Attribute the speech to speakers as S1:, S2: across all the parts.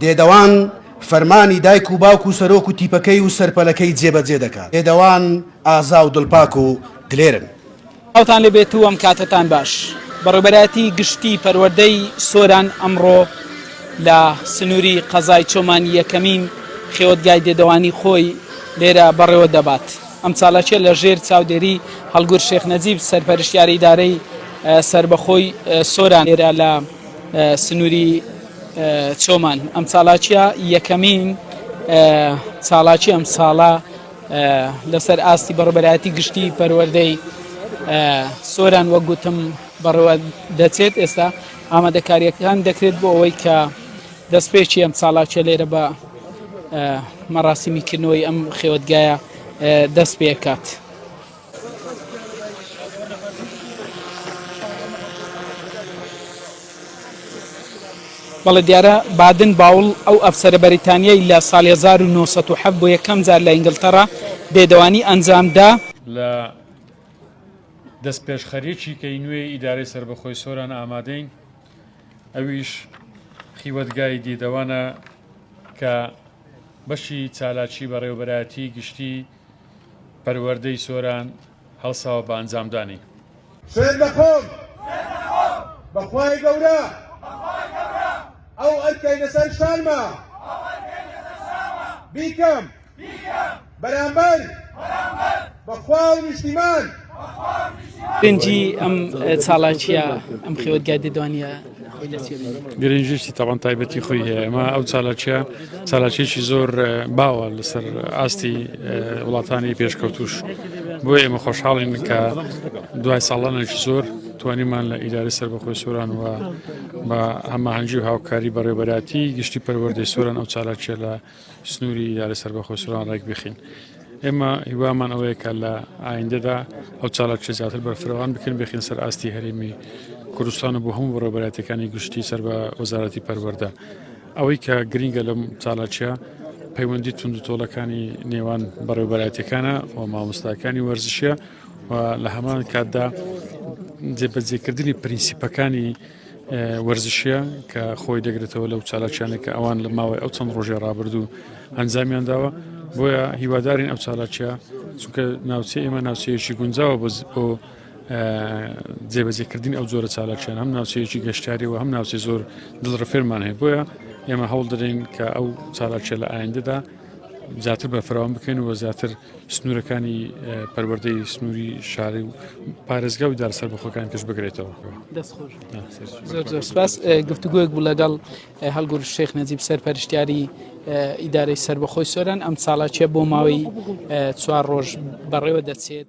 S1: دێدەوان فەرمانی دایک و باوک و سەرۆک و تیپەکەی و سەرپەلەکەی جێبەجێ دەکات. دێدەوان ئازا و دڵپاک و دلێرن. سڵاوتان لێ
S2: بێت و ئەم کاتەتان باش. بەڕێوبەرایەتی گشتی پەروەردەی سۆران ئەمڕۆ لە سنووری قەزای چۆمان یەکەمین خێوەتگای دێدەوانی خۆی لێرە بەڕێوە دەبات. ئەم چالاکیە لە ژێر چاودێری هەڵگور شێخ نەجیب سەرپەرشتیار ئیدارەی سربەخۆی سۆران لێرە لە سنووری چۆمان ئەم چالاکیە یەکەمین چالاکی ئەم ساڵە لەسەر ئاستی بەڕبەرایەتی گشتی پەروەردەی سۆران وە گوتم بەڕەوە دەچێت ئێستا ئامادەکاریەکان دەکرێت بۆ ئەوەی کە دەستپێکی ئەم چالاکیە لێرە بە مەراسیمی کردنەوەی ئەم خێوەتگایە دەست پێکات. بەڵێ دیارە بادن باوڵ ئەو ئەفسەرە بەریتانیای لە سال 1970 بۆ یەکەم جار لە ئینگلتەرا بێدەوانی ئەنجامدا لە
S3: دەستپێشخەریەکی کەی نوێی ئیدارەی سەربەخۆی سۆران ئامادەین. ئەویش خیوەتگای دیدەوانە کە بەشی چالاکی بەڕێوەبەرایەتی گشتی پەروەردەی سۆران هەڵساوە بە ئەنجامدانی. سوێند
S4: دەخۆم بەخوای گەورە ئەو ئەرکەی لەسەر شانمە بیکەم. بەرامبەر بەخوا و نیشتیمان
S2: گرنگی ئەم چاڵاکیە ئەم خێوەتگای دەدوانە
S3: گرنجشتی تاوان تایبەتی خۆی هەیە ئەمە ئەو چالاکیە چالاکێکی زۆر باوە لەسەر ئاستی وڵاتانی پێشکەوتوش بۆ ئێمە خۆشحاڵین کە دوای ساڵانێکی زۆر توانیمان لە ئیداری سربەخۆی سوران و بە هەماهنگجی و هاوکاری بەڕێبەراتی گشتی پەروەردەی سوران ئەو چالاکیە لە سنوری ئیدارە سەربەخۆ سوران ڕێک بخین ئێمە هیوامان ئەوەیە کە لە ئایندەدا ئەو چالاکچە زیاتر بەرفرەوان بکەن بخین سەر ئاستی هەرێمی کوردستان و بۆ هەموو بەڕێبەراتەکانی گشتی سەر بە وەزارەتی پەروەەردە ئەوەی کە گرنگە لەم چالاکە پەیوەندی تونند و تۆڵەکانی نێوان بەڕێوبەراتەکانە و مامۆستاکانی وەرزشە و لە هەمان کاتدا جێبەجێکردنی پرینسیپەکانی وەرزشیە کە خۆی دەگرێتەوە لەو چالاکیانە کە ئەوان لە ماوەی ئەو چەند ڕۆژێ ڕابردوو ئەنجامیان داوە بۆیە هیوادارین ئەو چالاکیە چونکە ناوچە ئێمە ناوچەیەکی گونجاوە بۆ جێبەجێکردن ئەو جۆرە چالاکیان هەم ناوچەیەکی گەشتاری و هەم ناوچەی زۆر دڵڕفێرمان هەیە بۆیە ئێمە هەوڵ دەدەین کە ئەو چالاکیە لە ئایندەدا زیاتر بەفراوان بکەن و زیاتر سنوورەکانی پەروەردەی سنووری شاری و پارێزگا و دار سەربەخۆکان کەش بگرێتەوە
S2: سپاس گفتوگوۆک بوو لەگەڵ هەڵگور شێخ نەجیب سەرپەرشتیاری ئیدارەی سربەخۆی سۆران ئەم ساڵاچیە بۆ ماوەی چوار ڕۆژ بەڕێوە دەچێت.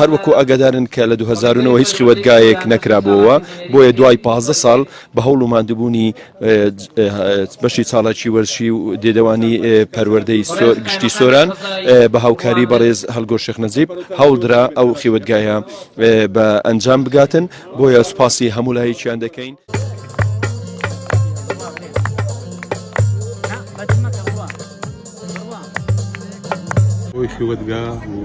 S5: هەروەکو ئاگادارن کە لە دوو هەزار و نۆ هیچ خیوەتگایەک نەکرابۆوە بۆیە دوای پازدە ساڵ بە هەوڵ و ماندوبوونی بەشی چاڵاکی وەرشی و دێدەوانی پەروەردەی گشتی سۆران بە هاوکاری بەڕێز هەلگۆ شێخ نەجیب هەوڵدرا ئەو خیوەتگایە بە ئەنجام بگاتن بۆیە سوپاسی هەموو لایەکیان دەکەین.
S6: ئەوەی خیوەتگا و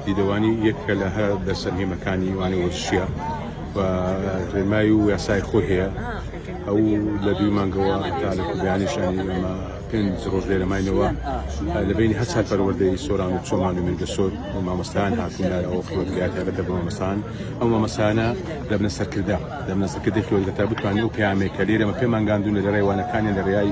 S6: دیدەوانی یەکە لە هەر دەسەرهێمەکانی وانە وەرزشیە و ڕێمای و یاسای خۆی هەیە ئەو لە دوی مانگەوە تا لە کوردیانیشانی ئەمە پێنج ڕۆژ لێرە ماینەوە لە بینی هەر چار پەروەردەی سۆران و چۆمان و مێنگە سۆر و مامۆستایان هاتوونار ئەو خیوەتگا تایبەتە بە مامۆستان ئەو مامۆستانە دەبنە سەرکردە دەبنە سەرکردەی خیوەتگە تا بتوانین و پەیامێک کە لێرەمە پێمانگاندون لە ڕێوانەکانی لە ڕێای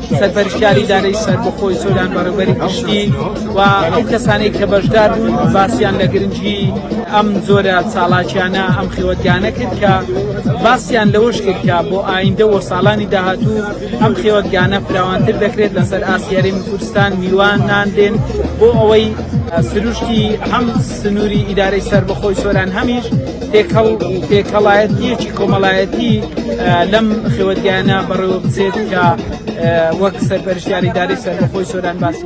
S2: سەرپەرشتیاری دارەی سەربەخۆی سۆران بەڕێوبەری گشتی و ئەو کەسانەی کە بەشدار بوون باسییان لە گرنگی ئەم جۆرە چاڵاکیانە ئەم خێوەتگانە کرد کە باسییان لەوەش کرد کە بۆ ئایندە و ساڵانی داهاتوو ئەم خێوەتگانە فراوانتر دەکرێت لەسەر ئاسیاری کوردستان میوانان دێن بۆ ئەوەی سروشتی هەم سنووری ئیدارەی سەربەخۆی سۆران هەمیش تێکەڵ و تێکەڵایەتیەکی کۆمەڵایەتی لەم خێوەتگانە بەڕێوە بچێت کە وەک سەرپەرشتیاری داری سەربەخۆی سۆران باسی